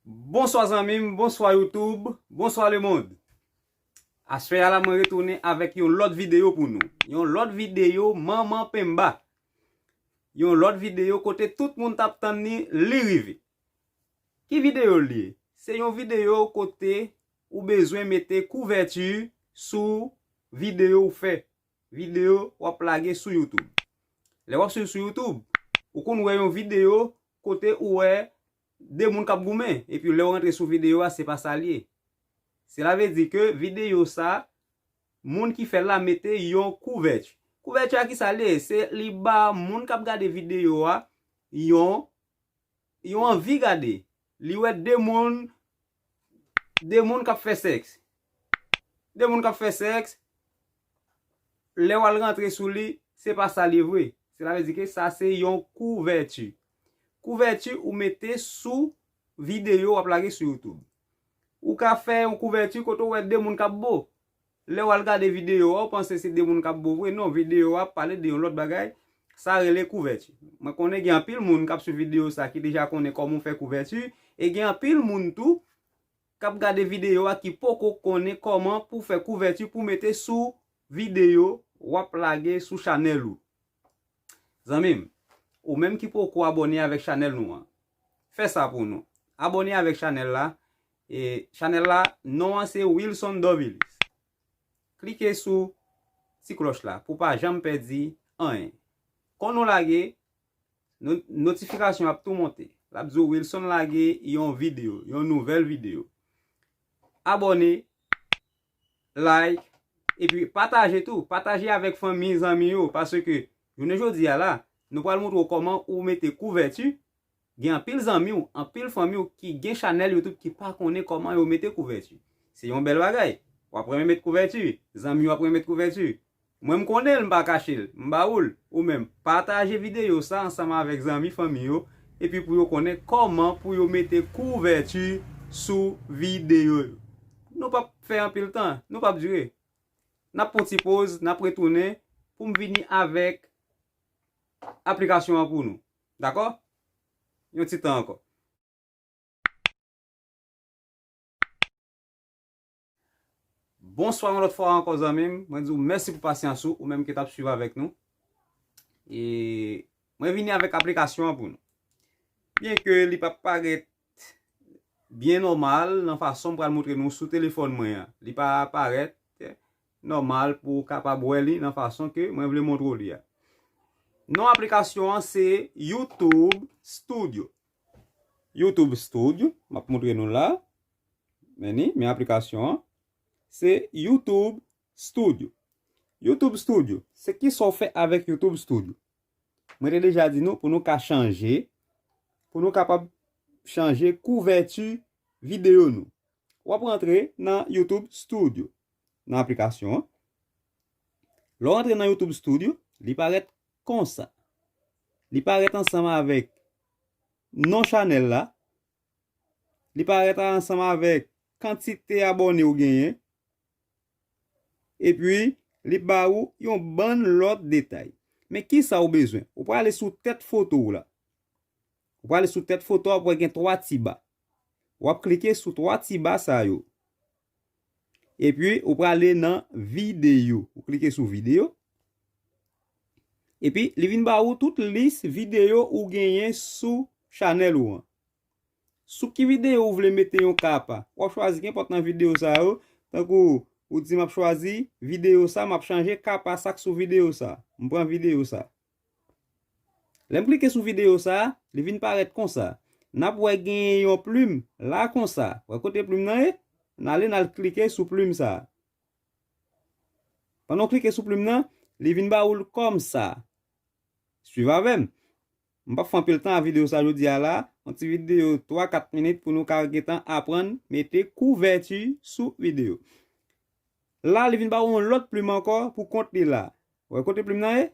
Bonswa zanmim, bonswa youtube, bonswa le mond Aswè a la mwen retounen avèk yon lòt videyo pou nou Yon lòt videyo manman penba Yon lòt videyo kote tout moun tap tann ni li rive Ki videyo li ye? Se yon videyo kote Ou bezwen mete kouvèti sou videyo ou fè, videyo w ap lage sou YouTube. Lè w ap swiv sou YouTube, ou konn wè yon videyo kote ou wè 2 moun k ap goumen, epi lè w rantre sou videyo a se pa sa l ye. Sela vle di ke videyo sa, moun ki fè l la mete yon kouvèti. Kouvèti a ki sa l ye? Se li ba moun k ap gade videyo a yon anvi gade. Li wè 2 moun 2 moun kap fè sèks. 2 moun kap fè sèks, lè wal rantre sou li, se pa sa li vre. Se la vle di ke sa se yon kouvèti. Kouvèti ou mete sou videyo wap lage sou YouTube. Ou ka fè yon kouvèti kote ou wè 2 moun kap bo. Lè wal gade video a ou panse se 2 moun kap bo vre non video a pale de yon lòt bagay sa rele kouvèti mwen konnen gen anpil moun kap swiv video sa ki deja konnen kòman ou fè kouvèti e gen anpil moun tou kap gade video a ki poko konnen kòman pou fè kouvèti pou mete sou video wap lage sou chanèl ou. Zanmim, ou menm ki poko abone avèk chanèl nou an, fè sa pou nou. Abone avèk chanèl la, e chanèl la non an se Wilson Dorvilus. Klike sou ti klòch la pou pa janm pèdi anyen. Kon nou lage, notifikasyon ap tou monte. Lap di w Wilson lage yon videyo, yon nouvèl videyo. Abone! like epi pataje tou pataje avèk fanmi zanmi yo paske jounen jodi a la nou pral montre w kòman ou mete kouvèti gen anpil zanmi w anpil fanmi w ki gen chanèl youtube ki pa konnen kòman yo mete kouvèti se yon bèl bagay wap renmen met kouvèti zanmi w ap renmen met kouvèti Mwen m konnen l m pa kache l. M ba ou l. Ou menm, pataje videyo sa ansanm avèk zanmi fanmi yo epi pou yo konnen kòman pou yo mete kouvèti sou videyo yo. Nou p ap fè anpil tan, nou p ap dire. N ap pran yon ti poz, n ap retounen pou m vini avèk aplikasyon an pou nou. Dakò? Yon ti tan ankò. Bonswa yon lòt fwa ankò zanmim, mwen diw mèsi pou pasyans ou, ou menm ki tap swiv avèk nou. E mwen vini avèk aplikasyon an pou nou. Byen ke li pa parèt byen nòmal nan fason m pral montre nou sou telefòn mwen an. Li pa parèt nòmal pou ou kapab wè li nan fason ke mwen vle montre ou li a. Non aplikasyon an se YouTube Studio. YouTube Studio, map montre nou la. Men ni, men aplikasyon an, se YouTube Studio. YouTube Studio, se ki sa w fè avèk YouTube Studio? Mwen te deja di nou pou nou ka chanje, pou nou kapab chanje kouvèti videyo nou. W ap rantre nan YouTube Studio, nan aplikasyon an. Lè w rantre nan YouTube Studio, li parèt konsa. Li parèt ansanm avèk non chanèl la, Li parèt a ansanm avèk kantite abòne ou genyen. Epi, li ba ou yon bann lòt detay. Men kisa ou bezwen? Ou prale sou tèt foto ou la. Ou prale sou tèt foto a, ou ap wè gen 3 ti ba. Ou ap klike sou 3 ti ba sa yo. Epi ou prale nan video. Ou klike sou video. Epi li vin ba ou tout lis video ou genyen sou chanèl ou an. Sou ki video ou vle mete yon ka pa. Wap chwazi gen pot nan video sa yo. Tankou ou di map chwazi video sa map chanje ka pa sak sou video sa. Mpran video sa. Lèm klike sou video sa, li vin parèt konsa. Nap wè genyen yon plim la konsa. Wè kote plim nan ye? Nale nal klike sou plim sa. Pandan ou klike sou plim nan, li vin ba oul komsa. Swiv avèm. M pap fè anpil tan a video sa jodia la, yon ti video 3, 4 minit pou nou ka gentan aprann mete kouvèti sou video. La li vin ba ou yon lot plim anko pou kont li la. Ou wè kote plim nan ye?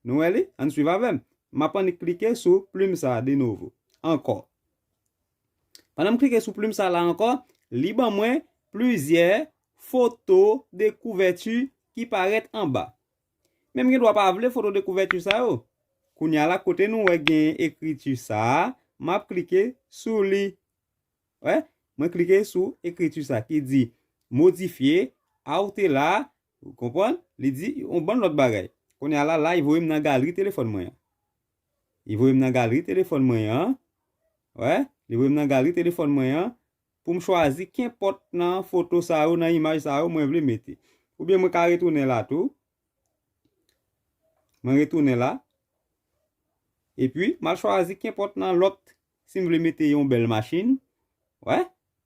Nou wè li? Ann swiv avè m. M ap annik klike sou plim sa a de novo. Ankò. Pandan m klike sou plim sa la ankò, li ban mwen plizyè foto de kouvèti ki parèt anba. Men m gen dwa pa vle foto de kouvèti sa yo. Kounya la kote nou wè gen ekriti sa a, m ap klike sou li. Wè? Mwen klike sou ekriti sa ki di, Modifye, Aoutela, Ou konprann? Li di, yon bann lòt bagay. Kounye a la, la, li voye m nan galri telefòn mwen an. Li voye m nan galri telefòn mwen an, wè, li voye m nan galri telefòn mwen an, pou m chwazi kenpòt nan foto sa yo, nan imaj sa yo mwen vle mete. Oubyen mwen ka retounen la tou. Mwen retounen la. Epi, m al chwazi kenpòt nan lòt Si m vle mete yon bèl machin, wè,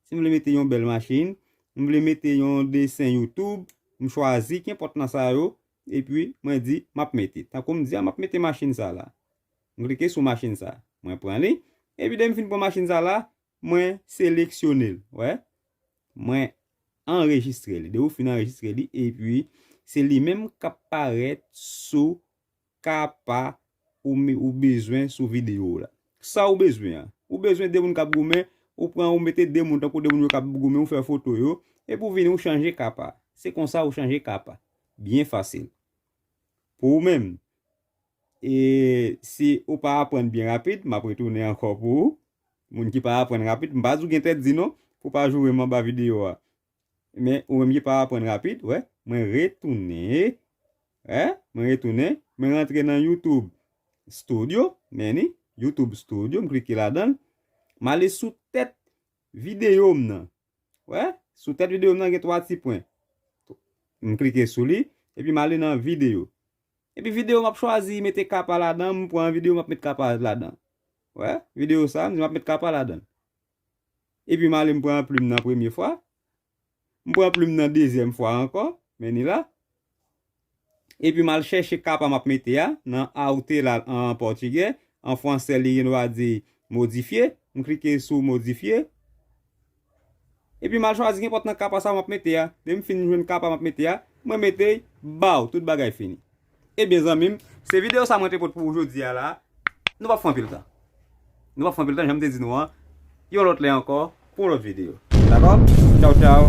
si m vle mete yon bèl machin, m vle mete yon desen YouTube, m chwazi kenpòt nan sa yo, epi mwen di m ap mete. Tankou m di a m ap mete machin sa la. M klike sou machin sa. Mwen pran li. Epi dè m fin pran machin sa la, mwen seleksyone l, wè. Mwen anrejistre li. Dè ou fin anrejistre li, epi se li menm k ap parèt sou ka pa ou bezwen sou video w la. Sa ou bezwen an. Ou bezwen 2 moun kap goumen, ou pran ou mete 2 moun tankou 2 moun yo kap goumen ou fè foto yo, epi ou vini ou chanje ka pa. Se konsa ou chanje ka pa. Byen fasil. Pou ou menm. E si ou pa aprann byen rapid, map retounen ankò pou ou. Moun ki pa aprann rapid, m pa di ou gen tèt di non, pou pa joure m anba video a. Men ou menm ki pa aprann rapid wè mwen retounen wè mwen retounen mwen rantre nan youtube studio men li youtube studio m klike ladanl m ale sou tèt videyo m nan wè sou tèt videyo m nan gen 3 ti pwen m klike sou li epi m ale nan videyo epi videyo m ap chwazi mete kapa ladan m pran videyo m ap met kapa ladan wè videyo sa m di m ap met kapa ladan. Epi m ale m pran plim nan premye fwa. M pran plim nan dezyèm fwa ankò. Men li la. Epi m al chèche kapa m ap mete a nan aute la an pòtigè. An fransè li gen dwa di modifye. M klike sou modifye. Epi m al chwazi nenpòt nan kapa sa a m ap mete a. Lè m fin jwenn kapa m ap mete a, mwen mete l, baw! Tout bagay fini. Ebyen zanmim, se video sa mwen te pot pou ou jodi a la. Nou pap fè anpil tan. Nou pap fè anpil tan janm te di nou an. Yon lot lè anko pou yon lot video. Dako? Chow chow.